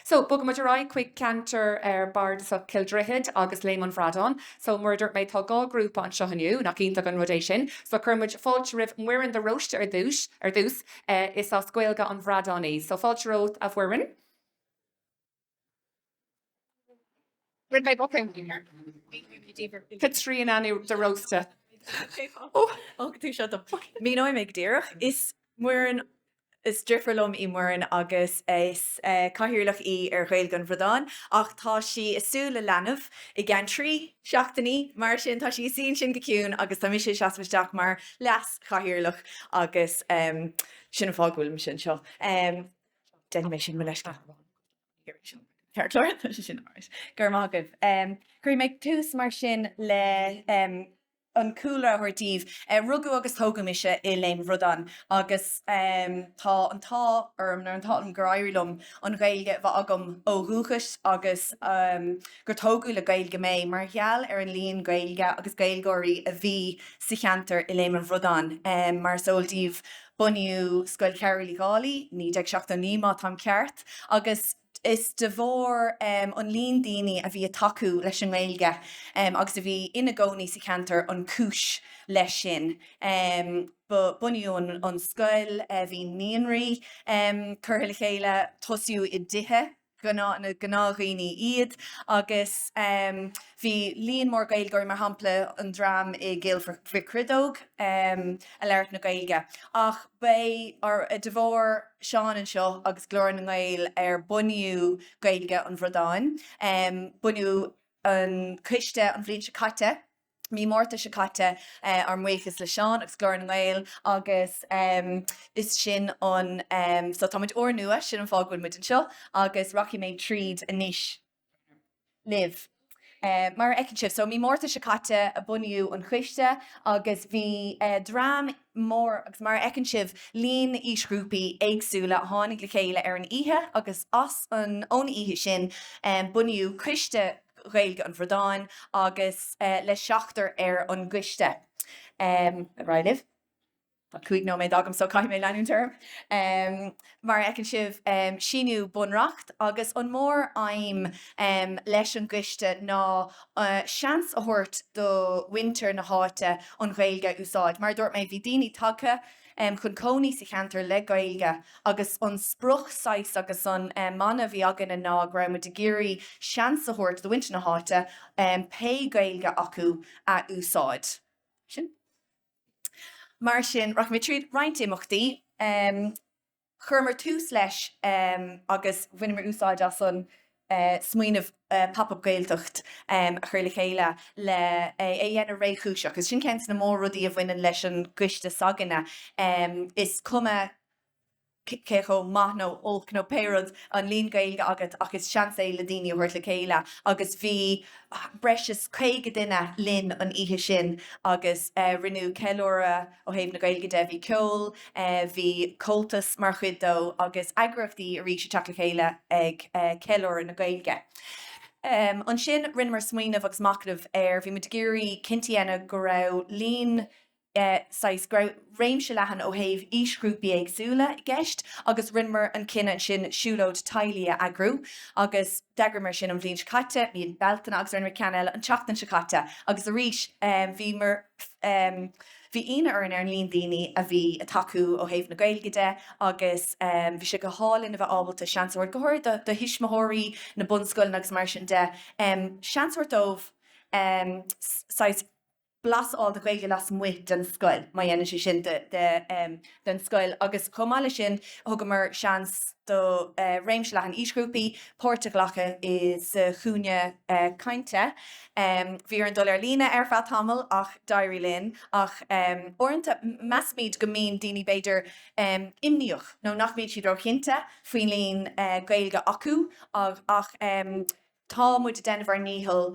So, bogfaidh muid ar aghaidh chuig ceantar bardasach Chill Droichid agus Léim an Bhradáin. So, mar a dúirt mé, tá dhá ghrúpa anseo inniu, nach iontach an rud é sin? So, cuirfidh muid fáilte roimh Muireann de Róiste ar dtús. Is as Gaeilge an Bhradáin í. So, fáilte romhat, a Mhuireann. Caitríona de Róiste. Míneoidh mé go díreach. Is Muireann, is deirfiúr liom í Muireann agus is cathaoirleach í ar Ghaeilge an Bhradáin ach tá sí ag súil le leanbh i gceann trí seachtainí, mar sin tá sí ag suí ansin go ciúin agus tá mise ag seasamh isteach mar leas-chathaoirleach agus sin an fáth go bhfuilimse anseo. Déanfaidh mé sin mo leithscéal. Cuirfidh mé tús mar sin le an cúlra a thabhairt daoibh. Rugadh agus tógadh mise i Léim an Bhradáin agus tá an t-ádh orm, nó an t-ádh liom, gur éirigh liom an Ghaeilge a bheith agam ó dhúchas agus gur tógadh le Gaeilge mé. Mar gheall ar an líon Gaeilge agus Gaeilgeoirí a bhí sa cheantar i Léim an Bhradáin, mar is eol daoibh, Bunaíodh Scoil Chearbhaill Uí Dhálaigh 1979 má táim ceart agus is de bharr an líon daoine a bhí ag tacú leis an nGaeilge agus a bhí ina gcónaí sa cheantar an cúis leis sin. Bunaíodh an scoil, bhí naíonraí curtha le chéile, tosaíodh i dtithe. ghnáth, na gnáthdhaoine iad agus bhí líon mór Gaeilgeoirí, mar shampla an dream i gCill Mhic Chriodóg, ag labhairt na Gaeilge. Ach ba é de bharr Seán anseo agus Glór na nGael ar bunaíodh Gaeilge an Bhradáin. Bunaíodh an coiste an bhliain seo caite. mí Márta seo caite. Ár mbuíochas le Seán agus Glór na nGael agus is sin an so tá muid úrnua, sin an fáth go bhfuil muid anseo agus rachaidh mé tríd anois libh. Mar a fheiceann sibh so mí Márta seo caite a bunaíodh an choiste agus bhí dream mór agus mar a fheiceann sibh líon aoisghrúpaí éagsúla a tháinig le chéile ar an oíche agus as an ón oíche sin bunaíodh coiste Ghaeilge an Bhradáin agus le seachtar ar an gcoiste. Ar aghaidh libh. Cúig nóiméad agam so caithfidh mé leanúint orm. Mar a fheiceann sibh, síníodh bunreacht agus an móraidhm leis an gcoiste ná seans a thabhairt do mhuintir na háite an Ghaeilge a úsáid. Mar a dúirt mé, bhí daoine tagtha, chun cónaí sa cheantar le Gaeilge agus an sprioc saghas agus an mana a bhí againne ná go raibh muid ag iarraidh seans a thabhairt do mhuintir na háite pé Gaeilge acu a úsáid. Sin. Mar sin, rachaidh mé tríd roinnt imeachtaí. Chuireamar tús leis agus bhaineamar úsáid as an smaoineamh Pop Up Gaeltacht a chur le chéile le é a dhéanamh réchúiseach agus sin ceann des na mór-rudaí a bhaineann leis an gcoiste s'againne, is cuma cé chomh maith nó olc nó pé rud an líon Gaeilge agat ach is seans é le daoine a thabhairt le chéile agus bhí breis is caoga duine linn an oíche sin agus rinneadh ceiliúradh Ó thaobh na Gaeilge de bhí ceol, bhí Comhaltas mar chuid dó agus eagraíochtaí arís ag teacht le chéile ag ceiliúradh na Gaeilge. Ansin rinneamar smaoineamh agus machnamh ar, bhí muid ag iarraidh cinnte a dhéanamh go raibh líon saghas, go raibh réimse leathan ó thaobh aoisghrúpaí éagsúla i gceist agus rinneamar an cinneadh ansin siúlóid teaghlaigh a eagrú agus d'eagraíomar sin an bhliain seo caite, mí Bealtaine agus rinneamar ceann eile an tseachtain seo caite agus arís bhíomar, Bhí ionadh orainn ar an líon daoine a bhí ag tacú ó thaobh na Gaeilge de agus bhí sé go hálainn a bheith ábalta seans a thabhairt go háirid do thuismitheoirí, na bunscoileanna agus mar sin de, seans a thabhairt dóibh saghas blas a fháil de Ghaeilge lasmuigh den scoil má dhéanann sé sin de den scoil agus chomh maith leis sin thugamar seans do réimse leathan aoisghrúpaí páirt a ghlacadh. Sa Chúinne Cainte bhí orainn dul ar líne ar feadh tamaill ach d'éirigh linn ach uaireanta measaimid go mbíonn daoine b'fhéidir imníoch nó nach mbeidh siad róchinnte faoin líon Gaeilge acu ach tá muid ag déanamh ár ndícheall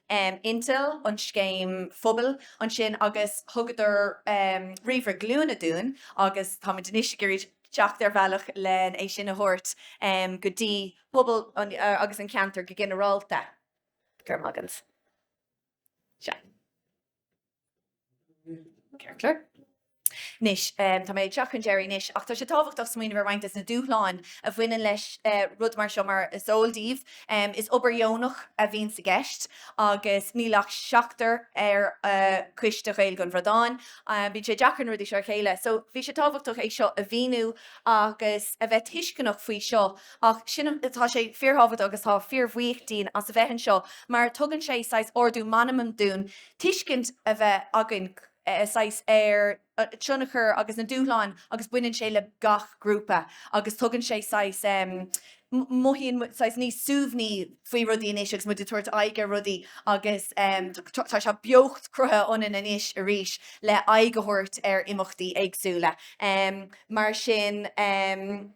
Intel an scéim phobail ansin agus thugadar ríomhaire glúine dúinn agus táimid anois ag iarraidh teacht ar bhealach len é sin a thabhairt go dtí pobal agus an ceantar go ginearálta. Go raibh maith agat. Sea. Ceirtler. Anois, tá mé ag teacht chun deiridh anois, ach tá sé tábhachtach smaoineamh ar roinnt des na dúshláin a bhaineann leis rud mar seo mar is eol daoibh, is obair dheonach a bhíonn sa gceist agus níl ach seachtar ar Choiste Ghaeilge an Bhradáin. Bíonn sé deacair na rudaí seo a chéile so bhí sé tábhachtach é seo a mhíniú agus a bheith tuisceanach faoi seo ach sin an, tá sé fíorthábhachtach agus tá fíorbhuíoch dínn as a bheith anseo mar tugann sé saghas ardú meanman dúinn tuiscint a bheith againn saghas ar tionchar agus na dúshláin agus baineann sé le gach grúpa agus tugann sé saghas, mothaíonn saghas níos suaimhní faoi rudaí anois agus muid ag tabhairt aghaidh ar rudaí agus tá sé beocht cruthaithe ionainn anois arís le aghaidh a thabhairt ar imeachtaí éagsúla. Mar sin.